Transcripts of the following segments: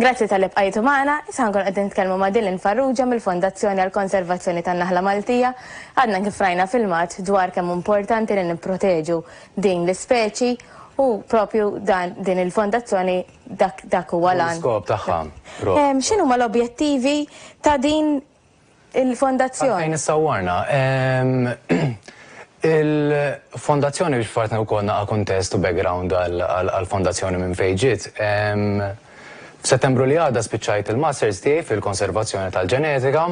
Grazzi talli bqajtu magħna, issa ħankunu qegħdin nitkellmu ma' Dylan Farrugia mill-Fondazzjoni għall-Konservazzjoni tan-Naħla Maltija. Għadna kif rajna filmat dwar kemm hu importanti li nipproteġu din l-ispeċi u propju dan din il-fondazzjoni dak dak huwa l-għan. L-iskop tagħha propju. X'inhuma l-objettivi ta' din Il-Fondazzjoni. Għalfejn issawwarna? Il-Fondazzjoni biex fattni wkoll naqa' kuntest u background għall-Fondazzjoni minn fejn ġiet. F'Settembru li għadda spiċċajt il-Masters tiegħi fil-Konservazzjoni tal-Ġenetika.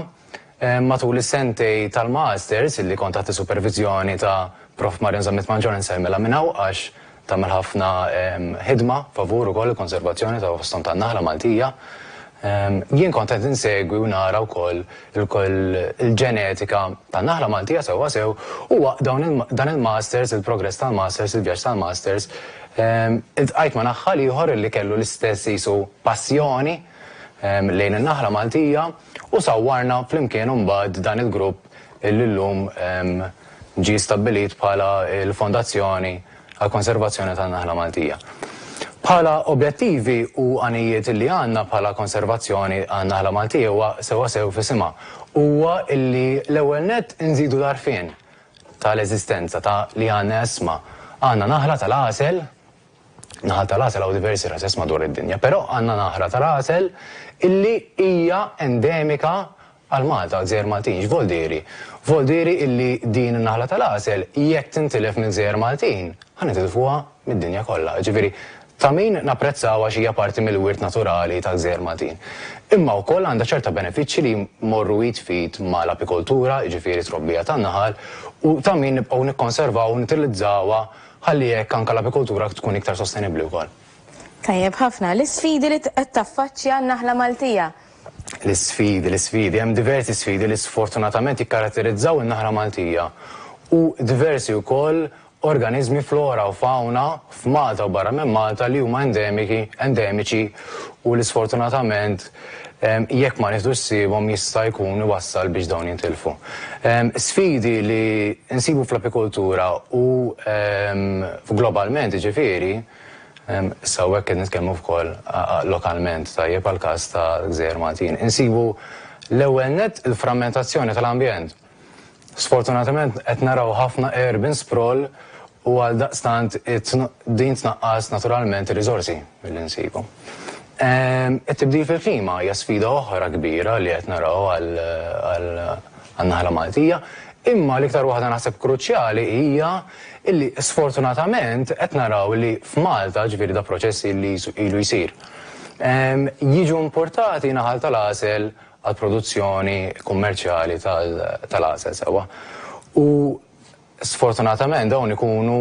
Matul is-sentej tal-Masters, li kont taħt is-superviżjoni ta' Prof. Marion Zammit Mangion insellmilha minn hawn għax Tagħmel ħafna ħidma favur ukoll il-konservazzjoni ta' fosthom tan-naħla Maltija. Jien kont qed insegwi u nara wkoll il-ġenetika tan-naħla Maltija sewwa sew u waqt dan il-masters, il-progress tal-masters, il-vjaġġ tal-masters, iltqajt ma' naħħal ieħor li kellu l-istess qisu passjoni lejn in-naħla Maltija u sawwarna flimkien imbagħad dan il-grupp li llum ġie stabbilit bħala l-Fondazzjoni għall-Konservazzjoni tan-Naħla Maltija. Bħala objettivi u għanijiet li għandna bħala Konservazzjoni għan-Naħla Maltija huwa sewwasew f'isimha, huwa li l-ewwel nett inżidu l-għarfien tal-eżistenza ta' li għandna isma, għandna naħla tal-għasel, Naħal ta' l-għasel hawn diversi rases madwar id-dinja, però għandna naħra ta' l-għasel illi hija endemika għal Malta, għaż-Żgħir Maltin, x'voldieri? Voldieri illi din in-naħla ta' l-għasel jekk tintilef mill-Gżejjer Maltin, ħa nitilfuha mid-dinja kollha. Jiġifieri ta' min napprezzawha għax hija parti mill-wirt naturali tal-Gżejjer Maltin. Imma wkoll għandha ċerta benefiċċji li jmorru id f'id ma' l-apikoltura, jiġifieri t-trobbija tan-naħal, u ta' min nibqgħu nikkonservaw u nitilizzawha Ħalli hekk anke l-apikultura tkun iktar sostenibbli wkoll. Tajjeb ħafna. L-isfidi li qed taffaċċja n-naħla Maltija. L-isfidi, l-isfidi. Hemm diversi sfidi li sfortunatament jikkaratterizzaw in-naħla Maltija u diversi wkoll organiżmi flora u fawna f'Malta u barra minn Malta li huma endemiki, endemiċi u li sfortunatament, jekk ma nieħdux ħsiebhom jista' jkun iwassal biex dawn jintilfu. Sfidi li nsibu fl-apikultura u globalment jiġifieri, issa hawnhekk qed nitkellmu wkoll lokalment, tajjeb, għall-każ ta' Gżejjer Maltin, insibu l-ewwel nett il-frammentazzjoni tal-ambjent. Sfortunatament qed naraw ħafna urban sprawl u għaldaqstant din tnaqqas naturalment ir-riżorsi milli nsibu. It-tibdil fil-klima hija sfida oħra kbira li qed naraw għan-naħla Maltija, imma l-iktar waħda naħseb kruċjali hija li sfortunatament qed naraw li f'Malta, ġifieri da proċess li ilu jsir, jiġu importati naħal tal-għasel għall-produzzjoni kummerċjali tal-għasel sewwa. U sfortunatament dawn ikunu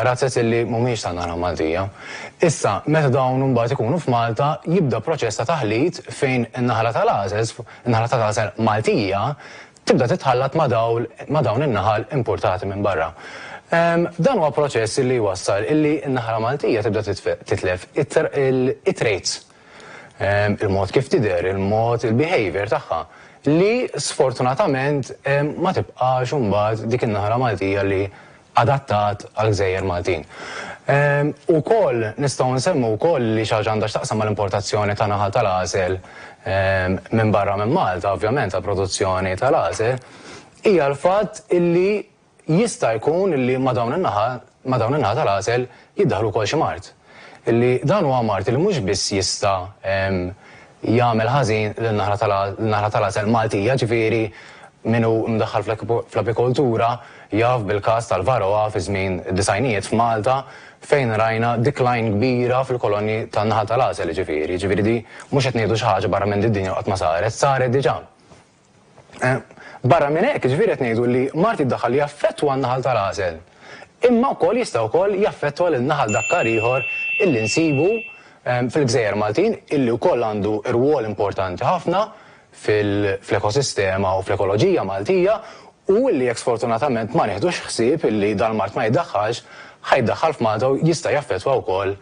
razez illi mhumiex tan-naħa Maltija. Issa, meta dawn imbagħad ikunu f'Malta, jibda proċess ta' taħlit fejn in-naħla tal-għasel, in-naħla tal-għasel Maltija, tibda titħallat ma' dawl, ma' dawn in-naħal impurtati minn barra. Dan huwa proċess illi jwassal illi n-naħla Maltija tibda titlef it-traits il-mod kif tidher, il-mod, il-behavior tagħha, li sfortunatament ma tibqax imbagħad dik in-naħra Maltija li adattat għall-gżejjer Maltin. Ukoll nistgħu nsemmu wkoll li xi ħaġa għandha x'taqsam mal-importazzjoni ta' naħal tal-għasel minn barra minn Malta, ovvjament għall-produzzjoni tal-għasel, hija l-fatt illi Jista' jkun li ma' dawn in-naħa ma' dawn in-naħa tal-għasel jiddaħħlu wkoll xi mard. Li dan huwa mard li mhux biss jista' jagħmel ħażin lin-naħla tal lin-naħla tal-għasel Maltija, ġifieri min hu mdaħħal fl-apikoltura jaf bil-każ tal-Varroa fi żmien id-disgħinijiet f'Malta fejn rajna decline kbira fil-kolonji tan-naħal tal-għasel, jiġifieri jiġifieri di mhux qed ngħidu xi ħaġa barra minn di d-dinja qatt ma saret, saret diġà. Barra minn hekk, jiġifieri qed ngħidu li mard jiddaħħal li jaffettwa n-naħal tal-għasel, imma wkoll jista' wkoll jaffettwa lil naħal dakkar ieħor illi nsibu fil-gżejjer Maltin illi wkoll għandu rwol importanti ħafna fl-ekosistema u fl-ekoloġija Maltija u illi jekk sfortunatament ma nieħdux ħsieb illi dal-mard ma jiddaħħalx, ħa jiddaħħal f'Malta u jista' jaffettwa wkoll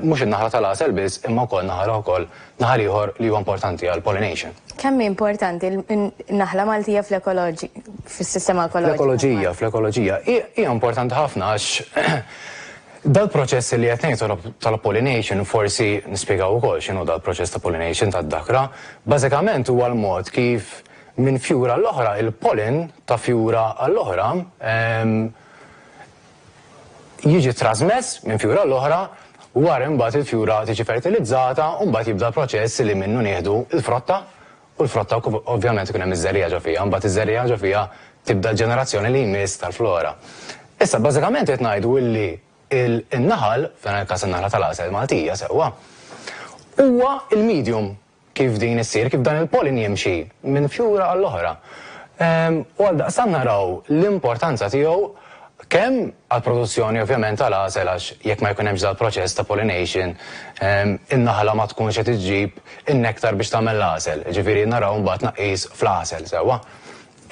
mhux in-naħla tal-għasel biss imma wkoll naħal oħra wkoll Naħal ieħor li huwa importanti għal pollination. Kemm hi importanti n-naħla Maltija fl-ekoloġi, fis-sistema ekoloġika? Fl-ekoloġija, fl-ekoloġija. Hi, hija importanti ħafna għax dal-proċess li qed ngħid tal-pollination forsi nispjegaw ukoll x'inhu dal-proċess ta' pollination tad-dakra. Bażikament huwa l-mod kif minn fjura għall-oħra, il-pollen ta' fjura għall-oħra, jiġi trażmess minn fjura l-oħra wara imbagħad il-fjura tiġi fertilizzata u mbagħad jibda l-proċess li minnu nieħdu l-frotta u l-frotta ovvjament ikun hemm iż-żerriegħa ġo fiha mbagħad iż-żerriegħa ġo fiha tibda l-ġenerazzjoni li jmiss tal-flora. Issa bażikament qed ngħidu illi n-naħal, f'dan il-każ in-naħla tal-għasel Maltija sewwa, huwa l-medium. Kif din issir, kif dan il-pollen jimxi minn fjura għall-oħra. U għaldaqstant naraw l-importanza tiegħu kemm għall-produzzjoni ovvjament tal-għasel għax jekk ma jkun hemmx dal-proċess ta' pollination in-naħla ma tkunx qed iġġib in-nektar biex tagħmel l-għasel, jiġifieri naraw mbagħad tnaqqis fl-għasel sewwa.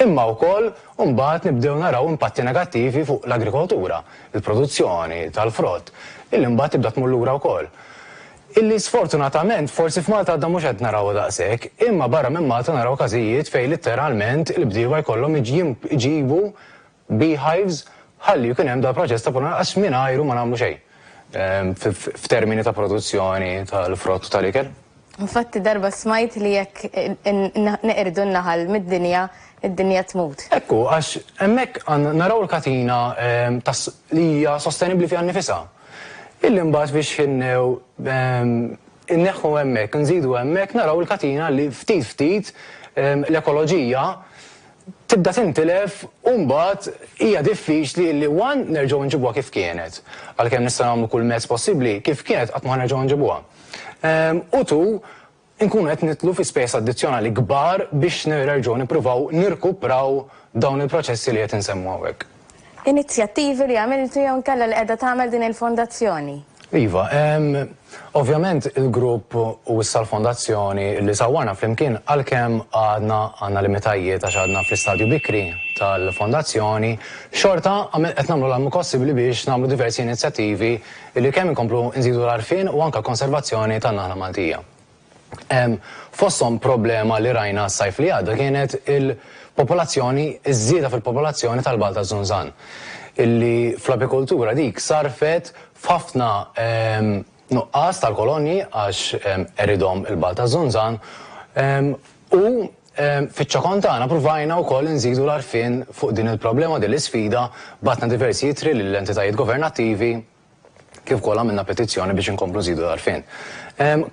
Imma wkoll mbagħad nibdew naraw impatti negattivi fuq l-agrikoltura, il-produzzjoni tal-frott, illi mbagħad tibda tmur lura wkoll. Illi sfortunatament forsi f'Malta għadna mhux qed narawha daqshekk, imma barra minn Malta naraw każijiet fejn litteralment il-bdiewa jkollhom iġibu beehives ħalli jkun hemm dal-proċess ta' prunar għax mingħajru ma nagħmlu xejn f'termini ta' produzzjoni tal-frott u tal-ikel. Infatti darba smajt li jekk neqirdu n-naħal mid-dinja, id-dinja tmut. Hekk hu, għax hemmhekk naraw il-katina li hija sostenibbli fiha nnifisha. Illi mbagħad biex ħinnew inneħħu hemmhekk, inżidu hemmhekk naraw il-katina li ftit ftit l-ekoloġija tibda tintilef u mbagħad hija diffiċli illi one nerġgħu nġibuha kif kienet, għalkemm nistgħu nagħmlu kull mezz possibbli, kif kienet qatt ma ħa nerġgħu nġibuha. U two, inkunu qed nidħlu fi spejjeż addizzjonali kbar biex nerġgħu nippruvaw nirkupraw dawn il-proċessi li qed insemmu hawnhekk. Inizjattivi li għamiltu jew inkella li qiegħda tagħmel din il-Fondazzjoni? Iva, ovvjament il-grupp u issa l-Fondazzjoni li sawwarna flimkien għalkemm għadna għandna limitajiet għax għadna fl-istadju bikri tal-Fondazzjoni, xorta qed nagħmlu l-almu possibbli biex nagħmlu diversi inizjattivi Billi kemm inkomplu nżidu l-għarfien u anke l-konservazzjoni tan-naħla Maltija. Fosthom problema li rajna s-sajf li għadda kienet il-popolazzjoni, iż-żieda fil-popolazzjoni tal-Bgħal taż-Żunżan, illi fl-apikultura dik sarrfet f'ħafna nuqqas tal-kolonji għax qeridhom il-Bgħal taż-Żunżan u Fiċ-ċokon tagħna pruvajna wkoll inżidu l-għarfien fuq din il-problema u din l-isfida, bgħatna diversi ittri lil entitajiet governattivi kif ukoll għamilna petizzjoni biex inkomplu nżidu l-għarfien.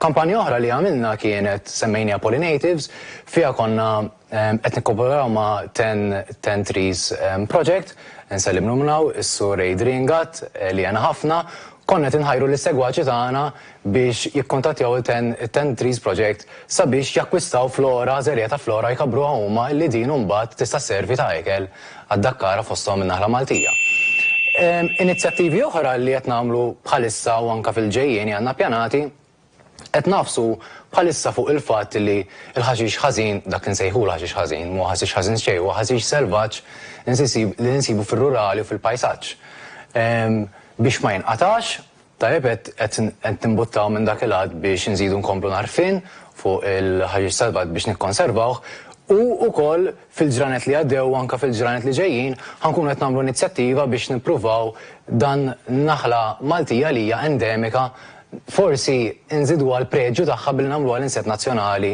Kampanja oħra li għamilna kienet semmejniha Pollinatives, fiha konna qed nikkoperaw ma' Ten Ten Trees Project, nsellimlu minn hawn is-Sur Adrian Gatt li għena ħafna, konna qed inħajru lis-segwaċi tagħna biex jikkuntattjaw it-Ten Trees Project sabiex jakkwistaw flora, żerriegħa ta' flora jkabbruha huma li din imbagħad tista' sservi ta' ikel għad-dakkara fosthom in-naħla Maltija. Inizjattivi oħra li qed nagħmlu bħalissa u anke fil-ġejjieni għandna ppjanati, qed nagħfsu bħalissa fuq il-fatt li l-ħaxix ħażin, dak li nsejħulu ħaxix ħażin, m'huwa ħaxix ħażin xejn, huwa ħaxix selvaġġ li nsibu fir-rurali u fil-pajsaġġ, biex ma jinqatax Tajjeb qed nimbuttaw minn dak il-għadd biex inżidu nkomplu l-għarfien fuq il-ħaxix salvat biex nikkonservawh u wkoll fil-ġranet li għaddew u anke fil-ġranet li ġejjin ħa nkunu qed nagħmlu inizjattiva biex nippruvaw dan naħla Maltija li hija endemika forsi nżiduha l-preġju tagħha billi nagħmluha l-inset nazzjonali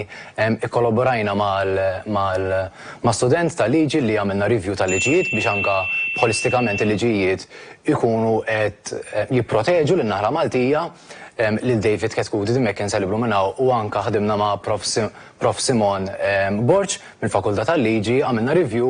Ikkolaborajna ma' student tal-liġi li għamilna review tal-liġijiet biex anke b'holistikament il-liġijiet ikunu qed jipproteġu lin-naħla Maltija, lil David Chetcuti, din m'hekk inseliblu minn hawn u anke ħdimna ma' Prof. Prof. Simon Borg mill-Fakultà tal-Liġi, għamilna review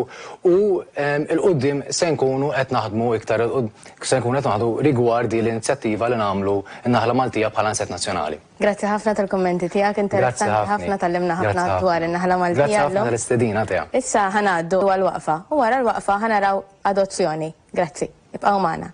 u 'l quddiem se nkunu qed naħdmu iktar 'l qud se nkunu qed naħdmu rigward din l-inizjattiva li nagħmlu n-naħla Maltija bħala inset nazzjonali. Grazzi ħafna tal-kummenti tiegħek, interessanti ħafna tgħallimna ħafna dwar in-naħla Maltija llum. Grazzi ħafna tal-istedina tiegħek. Issa ħa ngħaddu għall-waqfa u wara l-waqfa ħa naraw adozzjoni. Grazzi, ibqgħu magħna.